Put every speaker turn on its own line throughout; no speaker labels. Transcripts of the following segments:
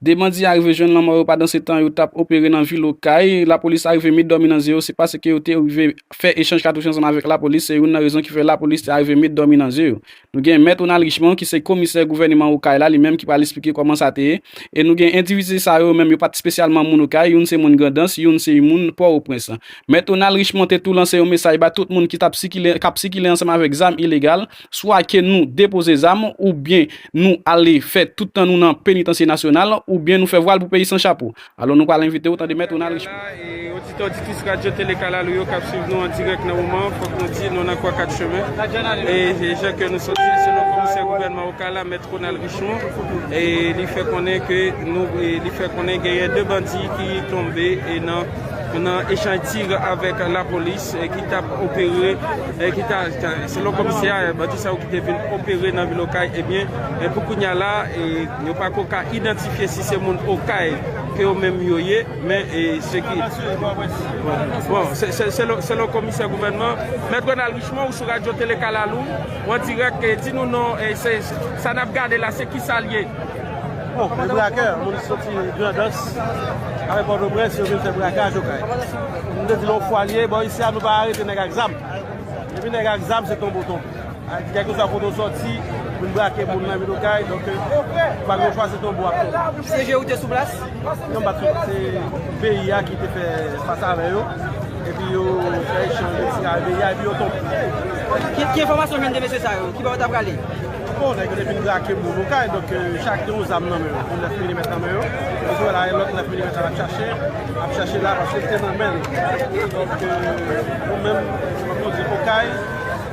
2 bandi arive jwenn lanmò yo padansetan yo tap opere nan vil Okay. Lapolis arive met dòmi nan ze yo, se pase ke yo te rive fè echanj katouch ansanm avèk lapolis, se youn nan rezon ki fè lapolis te arive met dòmi nan ze yo. Nou gen Mèt Ronald Richemond ki se komisè gouvèneman Okay la, li menm ki pral esplike kòman sa te ye. E nou gen endividi sa yo, yo menm yo pat spesyalman moun Okay, youn se moun Grandans, youn se you moun Pòroprens. Mèt Ronald Richemond te tou lanse yon mesaj ba tout moun ki tap sikile, kap sikile ansanm avèk zam ilegal, swa ke nou depoze zam oubyen nou ale fè tout tan nou nan Penitansye Nasyonal oubyen nou fè vwal pou peyi san chapo. Alò nou pral envite ou tande Mèt Ronald Richemond. Mwen la e oditè oditrice
radyo tele kalalou yo kap swiv nou an dirèk nan moman an fòk nou di nou nan kwa 4 chemen e jan ke nou sòti selon komisè gouvènman okala mèt Ronald Richemond e li fè konnen ke nou li fè konnen genyen 2 bandi ki tonbe e nan nan echanj tir avèk lapolis ki tap opere Selon komisè a, bandi sa yo ki te vin opere nan vil Okay, ebyen pou kounya la yo pa ko ka idantifye si se moun Okay ke yo menm yo ye, men se ki bon selon komisè gouvènman. Mèt Ronald Richemond ou sou radyo tele kalalou ou an dirèk di nou non sa nap gade la se kisal ye. Bon, e
brakè, moun ki soti Grandans avèk Pòtoprens yo vin fè brakaj Okay. M te di nou yon fwa li ye, bò isi a nou pa arete nèg ak zam. Depi nèg ak zam se tonbo tonbo. Kèlkeswa kote ou soti, vin brake moun nan vil Okay, donk ou pa gen chwa se tonbo ak tonbo. CG ou te sou
plas? Non m pa t sou plas,
se BI a ki te fè fas avè yo, epi yo fè echanj de siy avè BI a epi yo tonbe. Ki enfòmasyon ou jwenn de
mesye sa yo? Ki bò yo ta prale? Bon nèg yo te
fin brake moun nou kay donk chak gen yon zam nan men yo, yon 9 milimèt nan men yo, nou wè la yon lòt 9 milimèt lap chache, lap chache la paske li te nan men li. Donk nou menm fòk nou di okay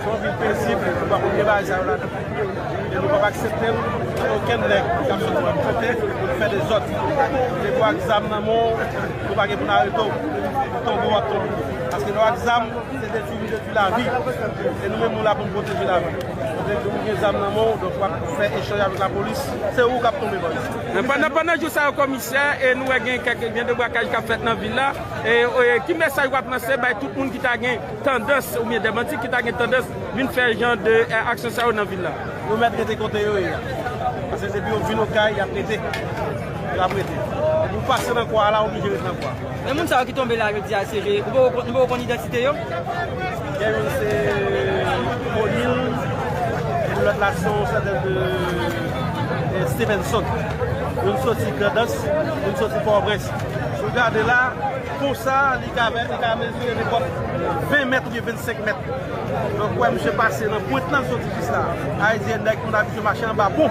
se yon vil pezib nou pa konn gen bagay sa yo ladan e nou pap aksepte l gen okenn nèg kap sòti lòt kote pou l fè dezòd depi w ak zam nan men w nou pa gen pou n arete w ou tonbe w ap tonbe paske lè w ak zam se detwi m detwi lavi e nou menm nou la pou n pwoteje lavi. Kote ou gen zam nan menw donk wap fè echanj avèk lapolis se ou kap tonbe bandi. Pandan jou
sa yo komisè e nou wè gen kèk gen de brakaj kap fèt nan vil la e ki mesaj wap lanse bay tout moun ki ta gen tandans ou byen de bandi ki ta gen tandans vin fè jan de aksyon sa yo nan vil la. Yo mèt rete kote
yo ye a pase depi yo vin okay yap rete yo ap rete depi ou pase nan kwa a la ou oblije rete nan kwa a. Men moun sa yo ki tonbe la
jodi a se nou poko konn idantite yo. Gen
youn se O'Neal epi lòt la se yon sèten de Stevenson. Youn soti Grandans, youn soti Pòtoprens. Si w gade la, pon sa a li ka mezire nenpòt 20 mèt oubyen 25 mèt. Donk ou wè misye pase nan pwent lan li soti jis la. Ayiti gen nèg moun abitye mache anba pon.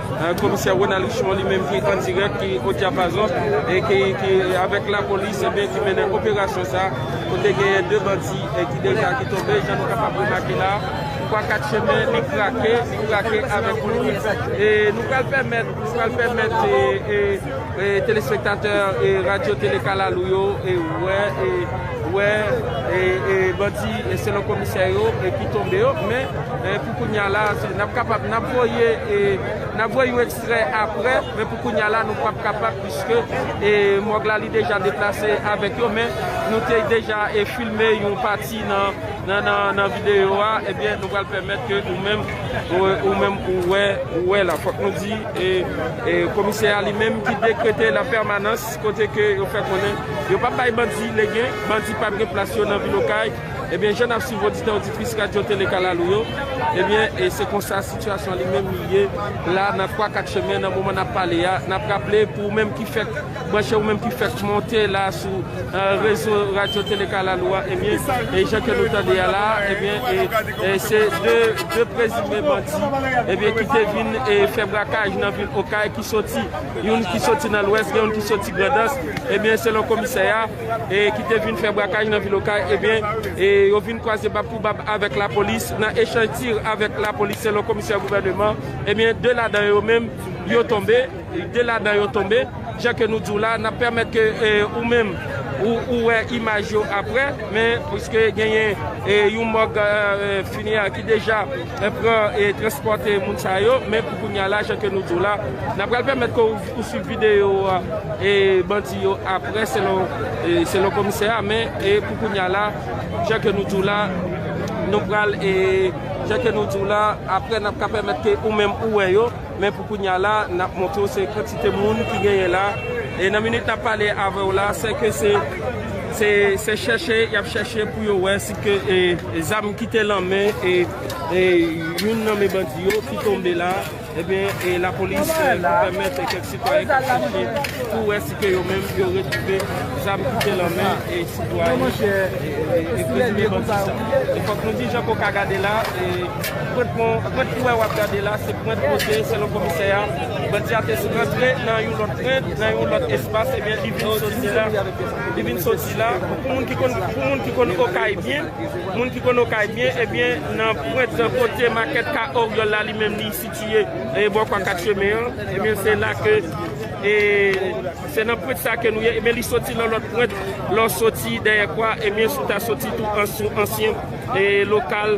Komisè Ronald Richemond li menm ki an dirèk, ki o dyapazon e ki avèk lapolis e byen ki mennen operasyon sa a kote genyen 2 bandi ki deja ki tonbe jan nou kapab remake la a. Kwa 4 chemen li krake, li krake avèk bri e nou pral pèmèt, nou pral pèmèt telespektatè radyo tele kalalou yo wè, wè bandi selon komisè yo ki tonbe yo men. Kounya la, nap kapab, nap voye, nap voye yon ekstrè aprè, men pou kounya la nou pap kapab puiske mòg la li deja deplase avèk yo, men nou te deja filme yon pati nan videyo a, ebyen nou pral pèmèt ke ou menm, ou menm ou wè, ou wè la. Fòk nou di, komisè a li menm ki dekrete la pèmanans kote ke yo fè konnen yo pap bay bandi legen, bandi pap gen plas yo nan vil Okay. Ebyen jan nap swiv oditè oditris radyo tele kalalou yo ebyen e se konsa sitiyasyon li menm li ye la nan 3 4 chemen nan moman nap pale a nap raple pou ou menm ki fèk branche ou menm ki fèk monte la sou rezo radyo tele kalalou a ebyen e jan ke nou tande a la ebyen e se 2 prezime bandi ebyen ki te vin e fè brakaj nan vil okay ki soti youn ki soti nan lwès gen youn ki soti grandans ebyen selon komisè a. e ki te vin fè brakaj nan vil Okay ebyen yo vin kwaze bab pou bab avèk lapolis nan echanj tir avèk lapolis selon komisè gouvèneman ebyen 2 ladan yo menm yo tonbe 2 ladan yo tonbe jan ke nou diw la nap pèmèt ke ou menm ou wè imaj yo aprè men pwiske genyen yon mòg finiyan ki deja pran e transpòte moun sa yo men pou kounya la jan ke nou diw la nap pral pèmèt ke ou. Pou swiv video a e bandi yo aprè selon selon komisè a men e pou kounya la jan ke nou diw la nou pral e jan ke nou diw la aprè nap ka pèmèt ke ou menm ou wè yo men pou kounya la nap montre w se kantite moun ki genyen la e nan minit nap pale avèw la se ke se se se chèche yap chèche pou yo wè si ke e zam kite lan men e e youn nan men bandi yo ki tonbe la. Ebyen e lapolis ki pèmèt kèk sitwayen kap chèche pou wè si ke yo menm yo retwouve zam ki te lan men e sitwayen e prezime bandi sa. E fòk nou di jan ke w ka gade la e pwent pon, pwent ki wè wap gade la se pwent kote selon komisè a bandi a te rantre nan yon lòt pwent, nan yon lòt espas ebyen li vin soti la, li vin soti la pou moun ki konn Okay byen. Moun ki konn Okay byen, ebyen nan pwent kote makèt Ka Oryòl la li menm li sitiye bò kwa 4 chemen an, ebyen se la ke se nan pwent sa ke nou ye, ebyen li soti nan lòt pwent lè w soti dèyè kwa, ebyen si w ta soti tou sou ansyen lokal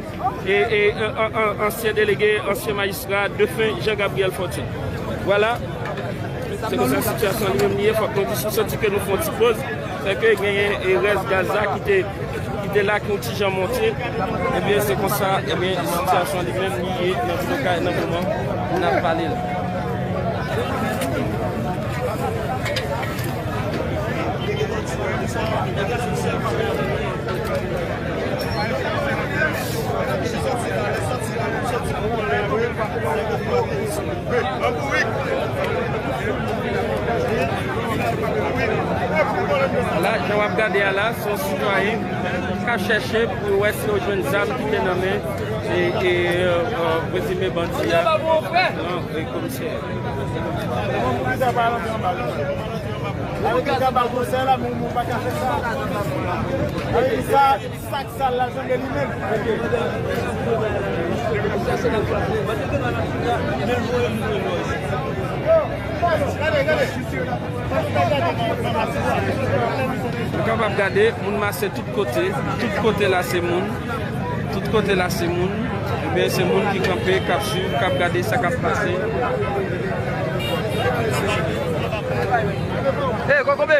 ansyen delege, ansyen majistra defen Jean Gabriel Fortune. Vwala, se konsa sitiyasyon an li menm li ye, fòk nou di sou soti ke nou fon ti poz, sè ke genyen rès gaz la ki te. ki te la ak yon ti jan monte, ebyen se konsa ebyen sitiyasyon li menm li ye nan vil okay nan moman nap pale la. Ala, jan wap gade a la, se yon sitwayen kap chèche pou yo wè si yo jwenn zam ki te nan men prezime bandi a nan komisè
a.
Sak sal la janbe li menm. Nou kapab gade moun mase tout kote, tout kote la se moun, tout kote la se moun, ebyen se moun ki kanpe kap swiv, kap gade sa kap pase.
Hey kokobe!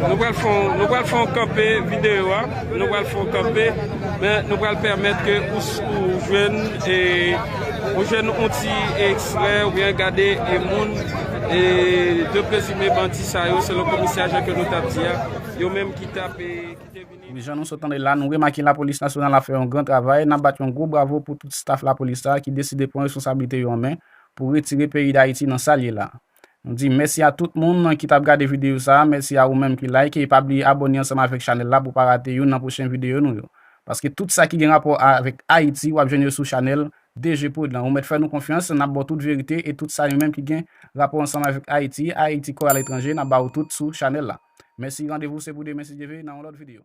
Nou pral fè yon, nou pral fè yon kanpe videyo a, nou pral fè yon kanpe, men nou pral pèmèt ke ou jwenn e, ou jwenn yon ti ekstrè ou byen gade e moun e de prezime bandi sa yo selon komisè a jan ke nou tap di a, yo menm ki tap e, ki te vini. Wi jan nou sot tande la, nou
remake lapolis nasyonal ap fè yon gran travay, nap bat yon gwo bravo pou tout staf lapolis sa ki deside pran responsablite yo an men pou retire peyi Dayiti nan sal ye la. M di mèsi a tout moun ki tap gade videyo sa, mèsi a ou menm ki like e pa bliye abòne ansanm avèk chanèl la pou pa rate youn nan pwochen videyo nou yo. Paske tout sa ki gen rapò avèk Ayiti wap jwenn yo sou chanèl DGprod lan. Ou mèt fè nou konfyans, nap ba w tout verite e tout sa yo menm ki gen rapò ansanm avèk Ayiti, Ayiti kò aletranje nap ba ou tout sou chanèl la. Mèsi randevou se pou demen si Dye ve nan yon lòt videyo.